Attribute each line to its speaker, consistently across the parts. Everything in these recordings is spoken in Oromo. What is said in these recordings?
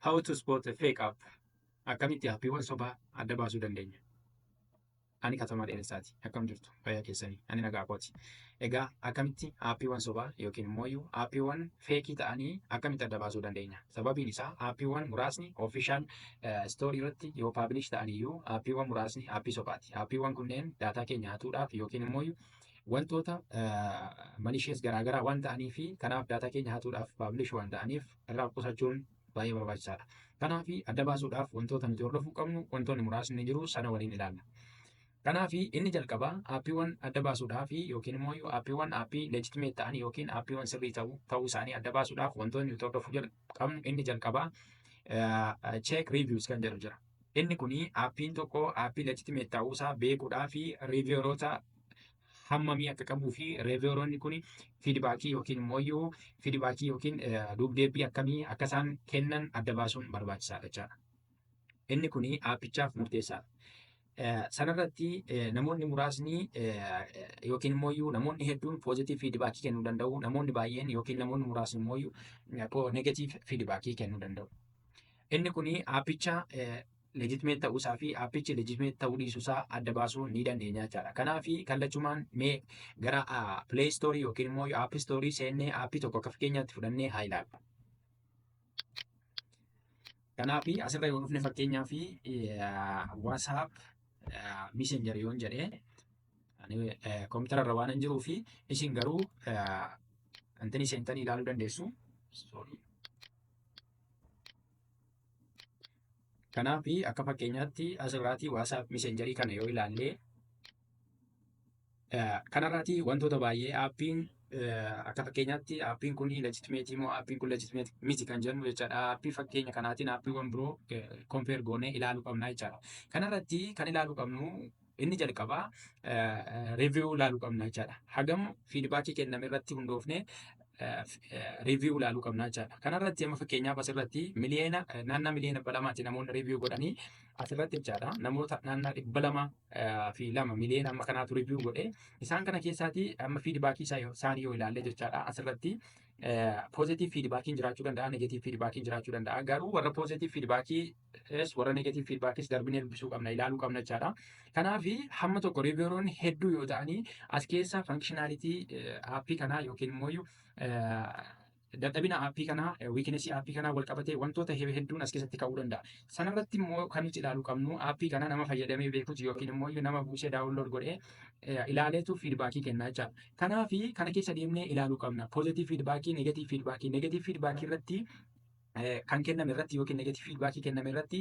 Speaker 1: How to spot a fake app. Akkamitti aappiiwwan sobaa adda baasuu dandeenya? Ani Katamaa Dheeressaati. Akkam jirtu? Fayyaa keessanii? Ani nagaa kooti. Egaa akkamitti aappiiwwan sobaa yookiin immoo iyyuu aappiiwwan feekii ta'anii akkamitti adda baasuu dandeenya? Sababiin isaa aappiiwwan muraasni ofishaal istoorii irratti yoo paabilish ta'an iyyuu aappiiwwan muraasni aappii sobaati. Aappiiwwan kunneen daataa keenya hatuudhaaf yookiin immoo iyyuu wantoota malishees garaagaraa waan ta'anii fi kanaaf daataa keenya hatuudhaaf paabilish waan ta'aniif irraa qusachuun baay'ee barbaachisaadha. Kanaaf adda baasuudhaaf wantoota nuti hordofuu qabnu wantoonni muraasni jiru sana waliin ilaalla. Kanaaf inni jalqabaa aappiiwwan adda baasuudhaaf yookiin immoo aappiiwwan aappii leejitimeet ta'an yookiin aappiiwwan sirrii ta'u ta'uu isaanii adda baasuudhaaf wantoonni nuti hordofuu jal- qabnu inni jalqabaa cheek riiviyuus kan jedhu jira. Inni kun aappiin tokko aappii leejitimeet ta'uu isaa beekuudhaaf riiviyooroota hammamii akka qabuu fi reeviyooronni kun fiidbaakii yookiin immoo fiidbaakii yookiin duubdeebbii akkamii akka isaan kennan adda baasuun barbaachisaadha jechaadha. Inni kun aappichaaf murteessaadha. Sanarratti namoonni muraasni yookiin immoo namoonni hedduun poozitiiv fiidbaakii kennuu danda'u, namoonni baay'een yookiin namoonni muraasni immoo negatiiv fiidbaakii kennuu danda'u. Inni kun aappicha legitimate ta'uu isaa fi appichi legitimate ta'uu dhiisuu isaa adda baasuu ni dandeenya jechaadha. Kanaaf kallachumaan mee gara play store yookiin immoo app store seennee appii tokko akka fakkeenyaatti fudhannee haa ilaallu. Kanaaf asirra yoo dhufne fakkeenyaaf WhatsApp messenger yoon jedhee kompiitara irra waan hin jiruu fi isin garuu intini seentanii ilaaluu dandeessu. Sorry. Kanaaf akka fakkeenyaatti asirraati WhatsApp messengerii kana yoo ilaalle kanarraati wantoota baay'ee aappiin akka fakkeenyaatti aappiin kun legitimate moo aappiin kun legitimate miti kan jennu jechaadha. Aappii fakkeenya kanaatiin aappiiwwan biroo kompeer goonee ilaaluu qabna jechaadha. Kanarratti kan ilaaluu qabnu Inni jalqabaa review ilaaluu qabna jechaadha. Hagam feedback kenname irratti hundoofnee review ilaaluu qabna jechaadha. Kanarratti amma fakkeenyaaf asirratti miliyoona naannaa miliyoona dhibba lamaatti namoonni review godhanii asirratti jechaadha namoota naannaa dhibba lama fi lama miliyoona amma kanaatu review godhe isaan kana keessaati amma feedback isaanii yoo ilaalle jechaadha asirratti positive feedbackiin jiraachuu danda'a negative feedbackiin jiraachuu danda'a garuu warra positive feedbackii Yes, warra negative feedbackis darbinee dubbisuu qabna, ilaaluu qabna jechaadha. Kanaaf hamma tokko revieweroonni hedduu yoo ta'anii as keessa functionality aappii kanaa yookiin immoo dadhabina aappii kanaa wiikinesii aappii kanaa wal qabatee wantoota hedduun as keessatti ka'uu danda'a. Sanarratti immoo kan nuti ilaaluu qabnu aappii kana nama fayyadamee beekuuti yookiin immoo nama buusee daawunlood godhee ilaaleetu fiidbaakii kennaa jechaadha. Kanaaf kana keessa deemnee ilaaluu qabna. Poozitiiv fiidbaakii, negatiiv fiidbaakii, negatiiv fiidbaakii irratti kan kenname irratti yookiin negative feedback kenname irratti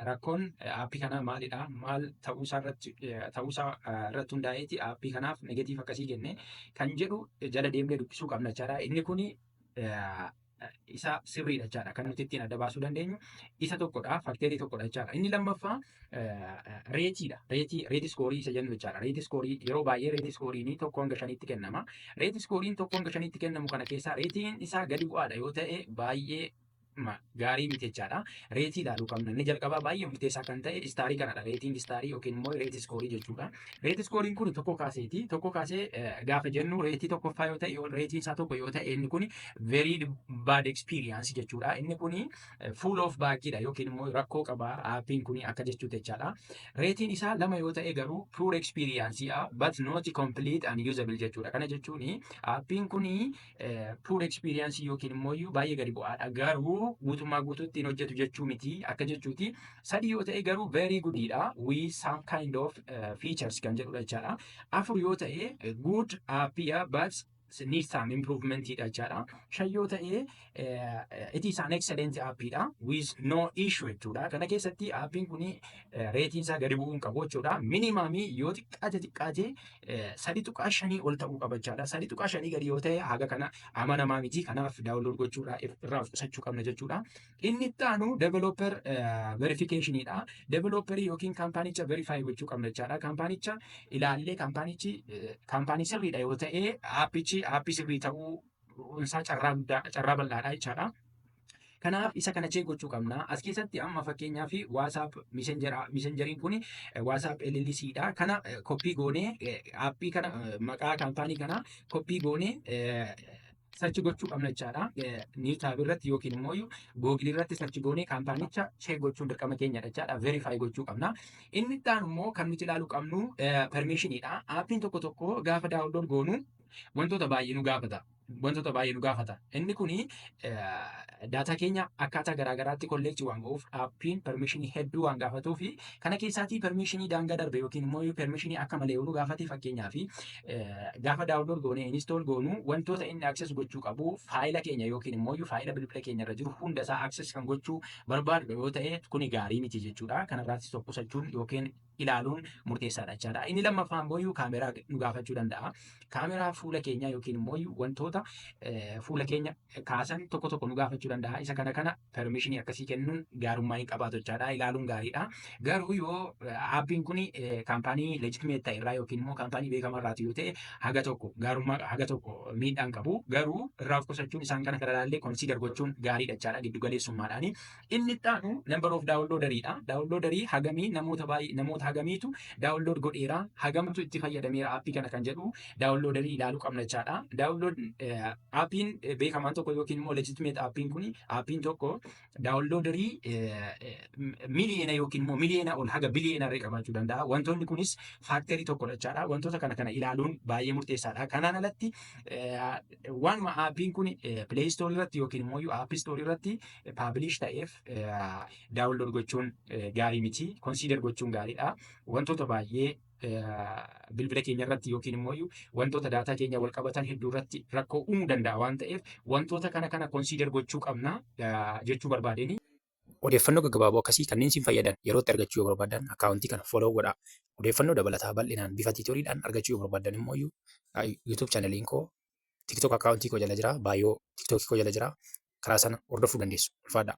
Speaker 1: rakkoon aappii kanaa maalidha maal ta'uusaa irratti ta'uusaa irratti hundaa'eeti aappii kanaaf negative akkasii kenne kan jedhu jala deemnee dubbisuu qabna jechaadha. Inni kuni isa sirriidha jechaadha kan nuti ittiin adda baasuu dandeenyu isa tokkodha fakteerii tokkodha jechaadha. Inni lammaffaa reetiidha. Reetii reeti iskoorii isa jennu jechaadha. Reeti iskoorii yeroo baay'ee reeti iskooriin tokko hanga shaniitti kennama. Reeti iskooriin tokko hanga shaniitti kennamu kana keessaa reetiin isaa gadi bu'aadha yoo ta'e baay'ee gaarii miti jechaadha. Reetii ilaaluu qabna. Inni jalqabaa baay'ee murteessaa kan ta'e istaarii kanadha. Reetiin istaarii yookiin immoo reetii iskoorii jechuudha. Reetii iskooriin kun tokko kaaseeti. Tokko kaasee gaafa jennu reetii tokkoffaa yoo ta'e reetiin isaa tokko yoo ta'e inni kun very bad experience jechuudha. Inni kun full of baakidha yookiin immoo rakkoo qaba aappiin kun akka jechuu jechaadha. Reetiin isaa lama yoo ta'e garuu poor experience a but not complete and usable jechuudha. Kana jechuun aappiin kun poor experience yookiin immoo baay'ee gadi bu'aadha garuu guutummaa guutuutti hin hojjetu jechuu miti akka jechuuti. Sadii yoo ta'e garuu very goodidha with some kind of uh, features kan jedhudha jechaadha. Afur yoo ta'e good app but need some improvement dha jechaadha. Shan yoo ta'e it is an excellent app dha with no issue jechuudha. Kana keessatti appiin kun reetiin isaa gadi bu'uu hin qabu jechuudha. Minimamii yoo xiqqaate xiqqaate sadi tuqaa shanii ol ta'uu qaba jechaadha. Sadi tuqaa shanii gadi yoo ta'e haga kana amanamaa miti. Kanaaf daawunlood gochuudhaa irraa of qusachuu qabna jechuudha. Inni itti aanu developer verification dha. Developer yookiin kaampaanicha verify gochuu qabna jechaadha. Kaampaanicha ilaallee kaampaanichi kaampaanii sirriidha yoo ta'e aappichi aappii sirrii ta'uu isaa carraa guddaa carraa bal'aadha jechaadha. Kanaaf isa kana chee gochuu qabna. As keessatti amma fakkeenyaa fi WhatsApp messenjeriin kun WhatsApp LLC dha. Kana koppii goonee aappii kana maqaa kaampaanii kana koppii goonee sarchi gochuu qabna jechaadha. Niw taab irratti yookiin immoo googilii irratti sarchi goonee kaampaanicha cheek gochuun dirqama keenyadha jechaadha. Verify gochuu qabna. Inni itti aanu immoo kan nuti ilaaluu qabnu permishinidha. Aappiin tokko tokko gaafa daawunlood goonu wantoota baay'ee nu gaafata. Wantoota baay'ee nu gaafata. Inni kuni Daataa keenya akkaataa garaa garaatti kolleekti waan go'uuf aappiin permishinii hedduu waan gaafatuu fi kana keessaatii permishinii daangaa darbe yookiin immoo permishinii akka malee oolu gaafate fakkeenyaa fi gaafa daawunlood goonee inistool goonu wantoota inni akses gochuu qabu faayila keenya yookiin immoo faayila bilbila keenya irra jiru hunda isaa akses kan gochuu barbaadu yoo ta'e kuni gaarii miti jechuudha. Kanarraattis of qusachuun yookiin ilaaluun murteessaadha jechaadha. Inni lammaffaa immoo kaameraa nu gaafachuu danda'a. Kaameraa fuula keenyaa yookiin immoo wantoota fuula keenya kaasan tokko tokko nu gaafachuu danda'a. Isa kana kana permishinii akkasii kennuun gaarummaa hin qabaatu jechaadha. Ilaaluun gaariidha. Garuu yoo aappiin kun kaampaanii leejitimeet ta'e irraa yookiin immoo kaampaanii beekamaa irraati yoo ta'e haga tokko gaarummaa haga tokko miidhaan qabu. Garuu irraa of qusachuun isaan kana kana ilaallee konsiidar gochuun gaariidha jechaadha. Giddu galeessummaadhaani. Inni itti aanu number of downloader dha. Downloader hagamii namoota baay'ee namoota hagamiitu download godheera hagamtu itti fayyadameera appii kana kan jedhu downloader ilaaluu qabna jechaadha. Download appiin beekamaan tokko yookiin immoo legitimate appiin kun appiin tokko downloader miliyeena yookiin immoo miliyeena ol haga biliyeena irra qabaachuu danda'a. Wantoonni kunis faaktarii tokkodha jechaadha. Wantoota kana kana ilaaluun baay'ee murteessaadha. Kanaan alatti waanuma appiin kun play store irratti yookiin immoo app store irratti paabliish ta'eef daawunlood gochuun gaarii miti. Konsiidar gochuun gaariidha. Wantoota baay'ee bilbila keenya irratti yookiin immoo wantoota daataa keenya wal qabatan hedduu irratti rakkoo uumuu danda'a waan ta'eef wantoota kana kana konsiidar gochuu qabna jechuu barbaadeen. Odeeffannoo
Speaker 2: gaggabaaboo akkasii kanneen siin fayyadan yeroo itti argachuu yoo barbaadan akkaawuntii kana follow godhaa. Odeeffannoo dabalataa bal'inaan bifa tiitooriidhaan argachuu yoo barbaadan immoo YouTube chaanaliin koo TikTok account koo jala jira. Baayoo TikTok koo jala jira. Karaa sana hordofuu dandeessu. Ulfaadhaa.